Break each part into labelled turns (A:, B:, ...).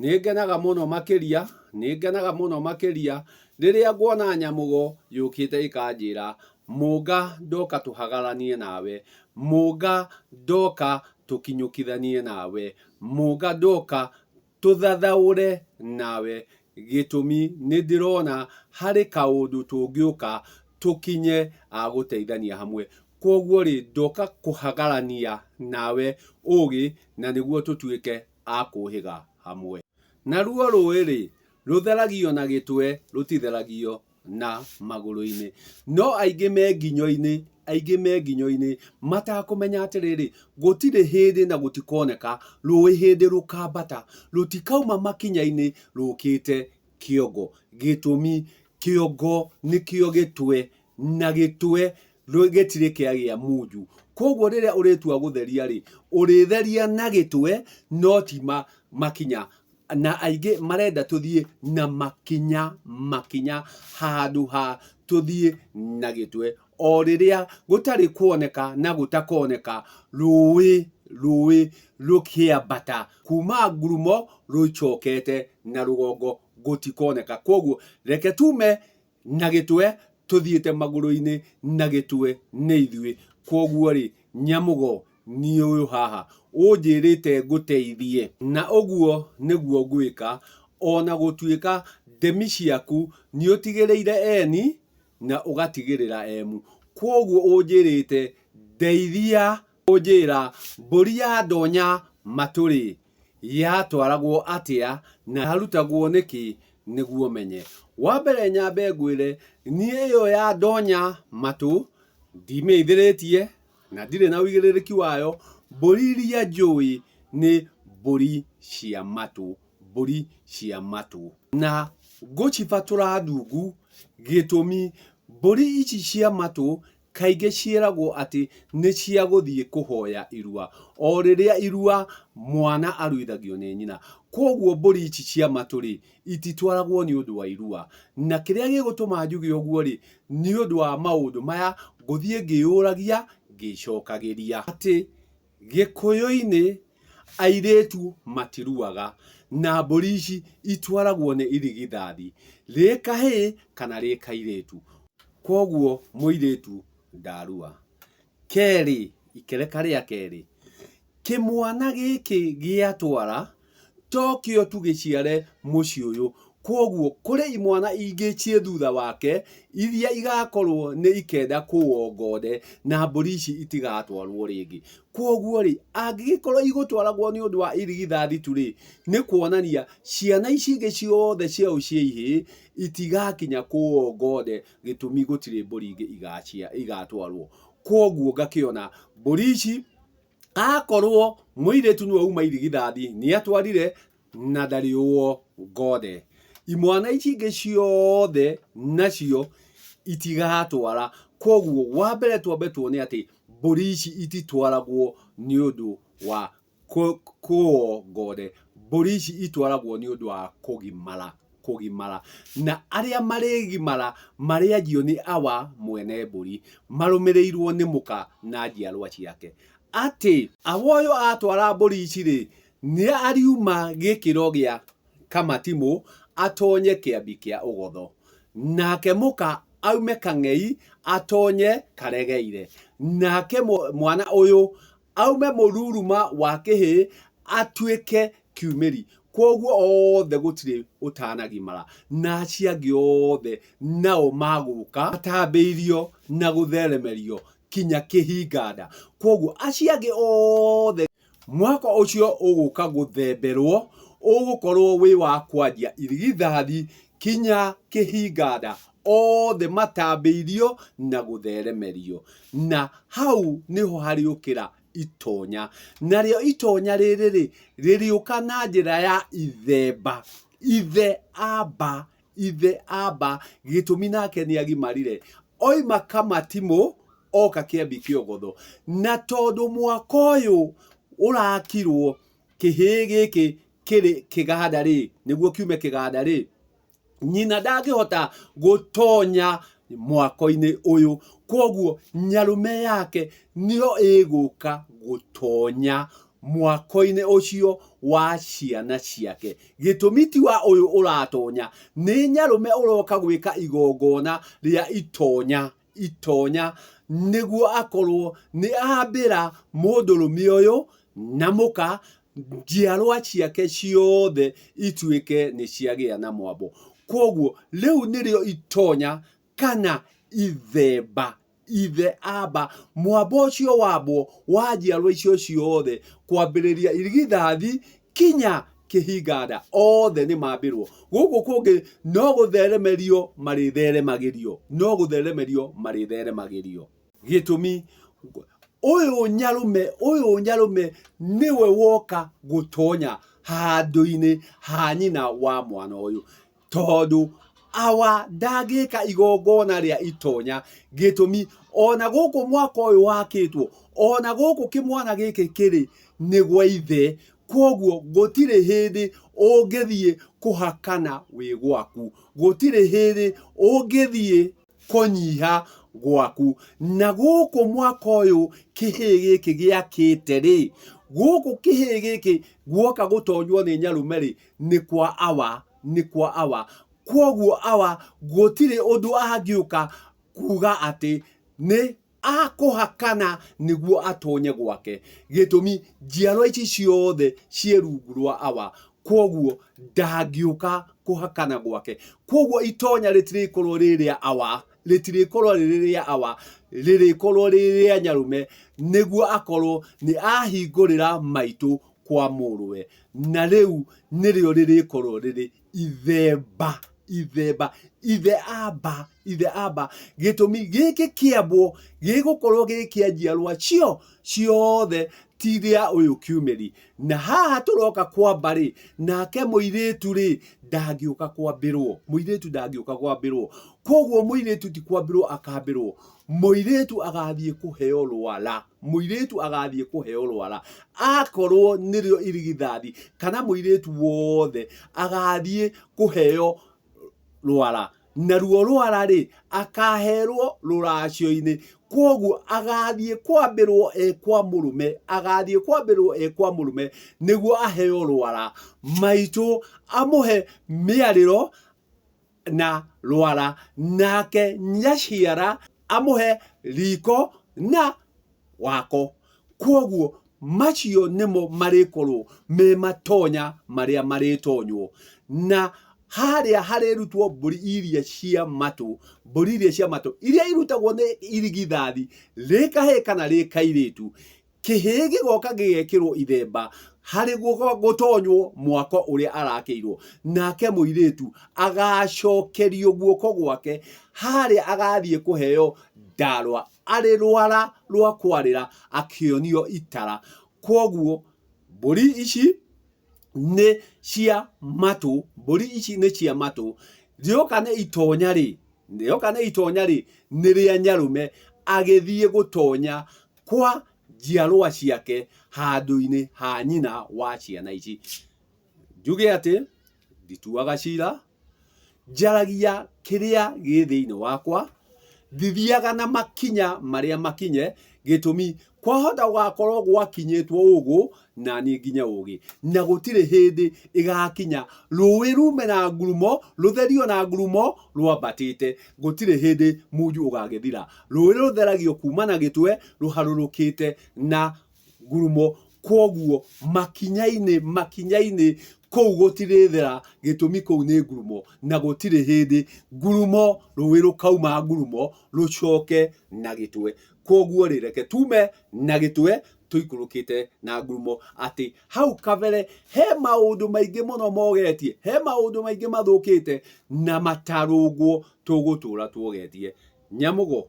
A: Nĩngenaga mũno makĩria, nĩngenaga mũno makĩria, Rĩrĩa nguona nyamũgo yũkĩte ĩkanjĩra, Mũnga ndoka tũhagaranie nawe, Mũnga ndoka tũkinyũkithanie nawe, Mũnga ndoka tũthathaũre nawe, Gĩtũmi nĩndĩrona harĩ kaũndũ tũngĩũka tũkinye a gũteithania hamwe. Kwoguo-rĩ, ndoka kũhagarania nawe ũgĩ na nĩguo tũtuĩke a kũũhĩga hamwe. Naruo rũũĩ-rĩ, rũtheragio na gĩtwe, rũtitheragio na magũrũ-inĩ. No aingĩ me nginyo-inĩ, aingĩ me nginyo-inĩ, matakũmenya atĩrĩrĩ, gũtirĩ hĩndĩ na gũtikoneka rũũĩ hĩndĩ rũkambata, rũtikauma makinya-inĩ rũkĩte kĩongo. Gĩtũmi, kĩongo nĩkĩo gĩtwe na gĩtwe gĩtirĩ kĩagĩa munju koguo rĩrĩa ũrĩtua gũtheria rĩ ũrĩtheria na gĩtwe no ti ma, makinya na aingĩ marenda tũthiĩ na makinya makinya handũ ha tũthiĩ na gĩtwe o rĩrĩa gũtarĩ kuoneka na gũtakoneka rũĩ rũĩ rũkĩambata kuma ngurumo rũicokete na rũgongo gũtikoneka koguo reke tume Na gĩtwe tũthiĩte magũrũ-inĩ na gĩtwe nĩ ithuĩ. Kwoguo-rĩ, Nyamũgo, niĩ ũyũ haha. Ũnjĩrĩte ngũteithie. Na ũguo nĩguo ngwĩka, o na gũtuĩka ndemi ciaku nĩũtigĩrĩire Eni na ũgatigĩrĩra Emu. Kwoguo ũnjĩrĩte ndeithia Ũnjĩra, mbũri ya ndonya matũ-rĩ, yatwaragwo atĩa na yarutagwo nĩkĩ nĩguo menye? Wa mbere nyambe ngwĩre, niĩ ĩyo ya ndonya matũ ndimĩithĩrĩtie na ndirĩ na ũigĩrĩrĩki wayo. Mbũri iria njũĩ nĩ mbũri cia matũ, mbũri cia matũ. Na ngũcibatũra ndungu, gĩtũmi, mbũri ici cia matũ Kaingĩ ciĩragwo atĩ nĩ cia gũthiĩ kũhoya irua. O rĩrĩa irua, mwana aruithagio nĩ nyina. Kwoguo mbũri ici cia matũ-rĩ, ititwaragwo nĩ ũndũ wa irua. Na kĩrĩa gĩgũtũma njuge ũguo-rĩ, nĩ ũndũ wa maũndũ maya ngũthiĩ ngĩyũragia ngĩcokagĩria. Atĩ Gĩkũyũ-inĩ, airĩtu matiruaga, na mbũri ici itwaragwo nĩ irigithathi, rĩ kahĩĩ kana rĩ kairĩtu. Kwoguo mũirĩtu ndarua. Kerĩ, ikereka rĩa kerĩ, kĩmwana gĩkĩ gĩatwara... tokĩo tũgĩciare mũciĩ ũyũ kwoguo kũrĩ imwana ingĩ ciĩ thutha wake iria igakorwo nĩ ikenda kũwongonde na mbũri ici itigatwarwo rĩngĩ kwoguo rĩ angĩgĩkorwo igũtwaragwo nĩ ũndũ wa irigithathi tu rĩ nĩ kuonania ciana ici ingĩ ciothe ciao cia ihĩĩ itigakinya kũwongonde gĩtũmi gũtirĩ mbũri ingĩ igatwarwo kwoguo ngakĩona mbũri ici akorwo mũirĩtu nĩwe uma irigithathi nĩatwarire na ndarĩ ũo ngothe imwana ici ingĩ ciothe nacio itigatwara koguo wa mbere twambe tuone atĩ mbũri ici ititwaragwo nĩ ũndũ wa kũ- kũo ngothe mbũri ici itwaragwo nĩ ũndũ wa kũgimara kũgimara, na arĩa marĩgimara marĩanjio nĩ Awa mwene mbũri, marũmĩrĩirwo nĩ Mũka na njiarwa ciake. Atĩ. Awa ũyũ atwara mbũri ici-rĩ, nĩariuma gĩkĩro gĩa Kamatimũ atonye kĩambi kĩa Ũgotho, nake Mũka aume Kang'ei atonye Karegeire, nake mwana ũyũ aume mũruruma wa kĩhĩĩ atuĩke kiumĩri. Kwoguo othe gũtirĩ ũtanagimara, na acio angĩ othe nao magũka matambĩirio na gũtheremerio kinya kĩhinganda. Kwoguo acio angĩ othe mwaka ũcio ũgũka gũthemberwo ũgũkorwo wĩ wa kwanjia irigithathi kinya kĩhinganda othe matambĩirio na gũtheremerio. Na hau nĩho harĩũkĩra itonya. Narĩo itonya rĩrĩ-rĩ, rĩrĩũka na njĩra ya ithemba. Ithe amba, ithe amba, gĩtũmi nake nĩagimarire, oima Kamatimũ oka Kĩambi Kĩogotho. Na tondũ mwaka ũyũ ũrakirwo kĩhĩĩ gĩkĩ kĩrĩ kĩganda-rĩ, nĩguo kiume kĩganda-rĩ, nyina ndangĩhota gũtonya mwako-inĩ ũyũ kwoguo nyarume yake nĩyo ĩgũka gũtonya mwako-inĩ ũcio wa ciana ciake gĩtũmi ti wa ũyũ ũratonya nĩ nyarume ũroka gwĩka igongona rĩa itonya itonya nĩguo akorwo nĩ ambĩra mũndũrũme ũyũ na mũka njiarwa ciake ciothe ituĩke nĩ ciagĩa na mwambo kwoguo rĩu nĩrĩo itonya kana ithemba ithe amba mwambo ũcio wambwo wa njiarwa icio ciothe kwambĩrĩria irigithathi Kinya kĩhinganda othe nĩ mambĩrwo, gũkũ kũngĩ no gũtheremerio marĩtheremagĩrio, no gũtheremerio marĩtheremagĩrio. Gĩtũmi, ũyũ nyarũme, ũyũ nyarũme nĩwe woka gũtonya handũ-inĩ ha nyina wa mwana ũyũ. Tondũ awa ndangĩka igongona rĩa itonya, gĩtũmi o na gũkũ mwako ũyũ wakĩtwo, o na gũkũ kĩmwana gĩkĩ kĩrĩ nĩ gwa ithe, kwoguo gũtirĩ hĩndĩ ũngĩthiĩ kũhakana wĩ gwaku, gũtirĩ hĩndĩ ũngĩthiĩ. kũnyiha gwaku. Na gũkũ mwaka ũyũ kĩhĩĩ gĩkĩ gĩakĩte rĩ, gũkũ kĩhĩĩ gĩkĩ guoka gũtonywo nĩ Nyarume rĩ, nĩ kwa awa, nĩ kwa awa. Kwoguo awa gũtirĩ ũndũ angĩũka kuuga atĩ nĩ akũhakana nĩguo atonye gwake gĩtũmi njiarwa ici ciothe ciĩ rungu rwa awa kwoguo ndangĩũka kũhakana gwake kwoguo itonya rĩtirĩkorwo rĩ rĩa awa rĩtirĩkorwo rĩrĩ rĩa awa rĩrĩkorwo rĩ rĩa nyarume nĩguo akorwo nĩ ahingũrĩra maitũ kwa mũrũwe na rĩu nĩrĩo rĩrĩkorwo rĩrĩ ithemba ithemba ithe amba ithe amba gĩtũmi gĩkĩ kĩambwo gĩgũkorwo gĩ kĩa njiarwa cio ciothe ti gĩa ũyũ kiumeri na haha tũroka kwamba rĩ nake mũirĩtu rĩ ndangĩũka kwambĩrwo mũirĩtu ndangĩũka kwambĩrwo koguo mũirĩtu ti kwambĩrwo akambĩrwo mũirĩtu agathiĩ kũheo rwara Mũirĩtu agaathiĩ kũheo rwara, akorwo nĩrĩo irigithathi, kana mũirĩtu wothe agaathiĩ kũheo rwara, naruo rwara-rĩ, akaaherwo rũracio-inĩ. Kwoguo agaathiĩ kwambĩrwo e kwa mũrũme, agaathiĩ kwambĩrwo e kwa mũrũme, nĩguo aheo rwara. Maitũ amũhe mĩarĩro. na rwara, nake nyaciara amũhe riko na wako. Kwoguo macio nĩmo marĩkorwo me matonya marĩa marĩtonywo, na harĩa harĩrutwo mbũri iria cia matũ, mbũri iria cia matũ iria irutagwo nĩ irigithathi rĩ kahĩĩ kana rĩ kairĩtu, kĩhĩĩ gĩgoka gĩgekĩrwo ithemba harĩ gũtonywo mwako ũrĩa arakĩirwo nake mũirĩtu agacokerio guoko gwake harĩa agathiĩ kũheo ndarwa arĩ rwara rwa kwarĩra akĩonio itara kwoguo mbũri ici nĩ cia matũ mbũri ici nĩ cia matũ rĩoka nĩ itonya rĩ rĩoka nĩ itonya rĩ nĩ rĩa nyarũme agĩthiĩ gũtonya kwa njiarwa ciake handũ-inĩ ha nyina wa ciana ici njuge atĩ ndituaga cira njaragia kĩrĩa gĩ thĩinĩ wakwa ndithiaga na makinya marĩa makinye gĩtũmi kwahota gũgakorwo gwakinyĩtwo ũgũ na niĩ nginye ũũgĩ, na gũtirĩ hĩndĩ ĩgaakinya rũũĩ ruume na ngurumo, rũtherio na ngurumo rwambatĩte, gũtirĩ hĩndĩ munju ũgaagĩthira, rũũĩ rũtheragio kuuma na gĩtwe rũharũrũkĩte na ngurumo, kwoguo makinya-inĩ, makinya-inĩ kũu gũtirĩthera, gĩtũmi kũu nĩ ngurumo, na gũtirĩ hĩndĩ ngurumo, rũũĩ rũkauma ngurumo rũcooke na gĩtwe. Kwoguo-rĩ, reke tuume na gĩtwe tũikũrũkĩte na ngurumo atĩ hau kabere he maũndũ maingĩ mũno mogetie he maũndũ maingĩ mathũkĩte na matarũngwo tũgũtũra tuogetie nyamũgo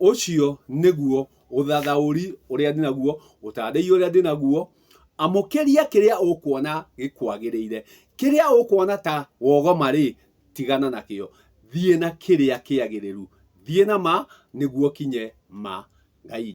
A: ũcio nĩguo ũthathaũri ũrĩa ndĩ naguo ũtandĩi ũrĩa ndĩ naguo amũkĩria kĩrĩa ũkuona gĩkwagĩrĩire kĩrĩa ũkuona ta wogoma rĩ tigana nakĩo thiĩ na kĩrĩa kĩagĩrĩru thiĩ na ma nĩguo kinye ma ngai